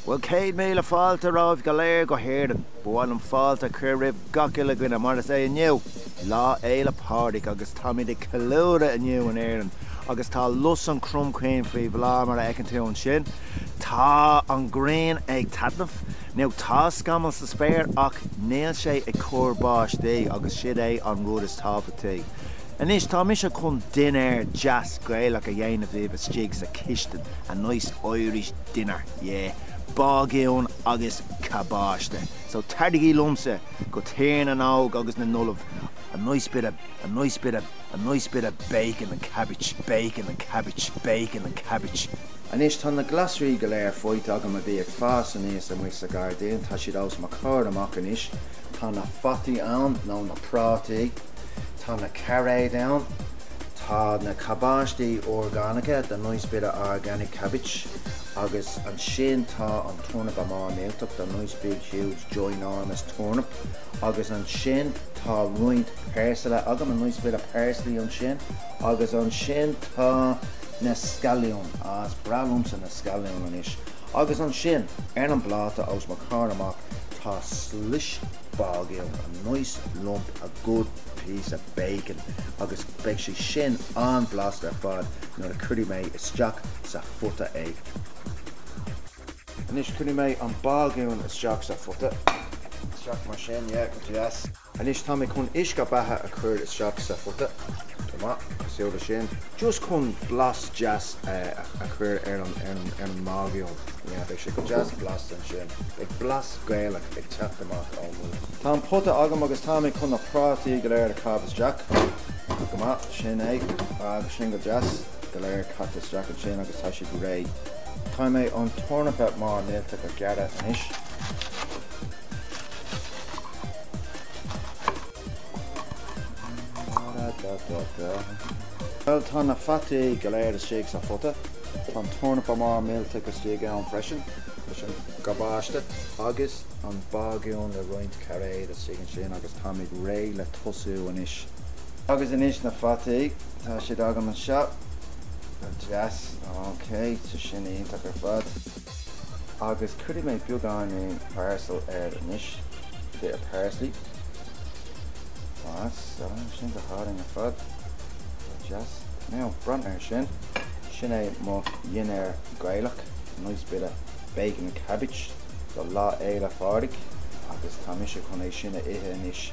Bhuel, céad míle fáilte romhaibh go léir go hÉirinn. Ba mhaith liom fáilte a chur roimh gach uile dhuine mar is é inniu Lá Fhéile Pádraig agus táimid ag ceiliúradh inniu in Éirinn agus tá lus an chromchinn faoi bhláth mar a fheiceann tú ansin. Tá an ghrian ag taitneamh, nó tá scamaill sa spéir ach níl sé ag cur báistí agus siúd é an rud is tábhachtaí. Anois tá mise chun dinnéar deas Gaelach a dhéanamh daoibh istigh sa chistin, a nice Irish dinner, yeah, bágún agus cabáiste, so taraigí liomsa go Tír na nÓg agus na nOllamh a nice bit of bacon and cabbage, bacon and cabbage, bacon and cabbage. Anois tá na glasraí go léir faighte agam a bhí ag fás aníos amuigh sa ghairdín, tá siad os mo chomhair amach anois. Tá na fataí ann, nó na prátaí. Tá na cairéid ann. Tá na cabáistí orgánacha, the nice bit of organic cabbage, agus ansin tá an tornapa mór millteach, the nice big huge ginormous turnip, agus ansin tá roinnt peirsile agam, a nice bit of parsley, ansin. Agus ansin tá na scailliúin. Ah, is breá liomsa na scailliúin anois. Agus ansin, ar an bpláta os mo chomhair amach, tá slis. bágúin, a nice lump, a good piece of bacon agus beidh sé sin an-bhlasta ar fad nuair a chuirfidh mé isteach sa phota é. Anois cuirfidh mé an bágún isteach sa phota. Isteach mar sin, yeah, go deas. Anois tá mé chun uisce beatha a chur isteach sa phota, go maith, cosúil leis sin, just chun blas deas a chur ar an mbágún. Yeah, beidh sé go deas blasta ansin. Beidh blas. Gaelach ag teacht amach ón mbágún. Tá an pota agam agus tá mé chun na prátaí go léir a chaitheamh isteach. Go maith, sin é, agus sin go deas, go léir caite isteach ansin agus tá siad réidh. Tá mé chun an tornapa mór millteach a ghearradh anois. Bhuel, tá na fataí go léir istigh sa phota. Tá an tornapa mór millteach istigh ann freisin. leis an gcabáiste agus an bágún le roinnt cairéad istigh ansin agus táimid réidh le tosú anois. Agus anois na fataí, tá siad agam anseo, go deas, ok, tá sin iontach ar fad. Agus cuirfidh mé beagán peirsil air anois, bit of parsley, deas, tá sin go hálainn ar fad, go deas. Now, breathnaigh air sin, sin é mo dhinnéar Gaelach. Nice bit of bacon and cabbage do Lá Fhéile Phádraig agus tá mise chun é sin a ithe anois.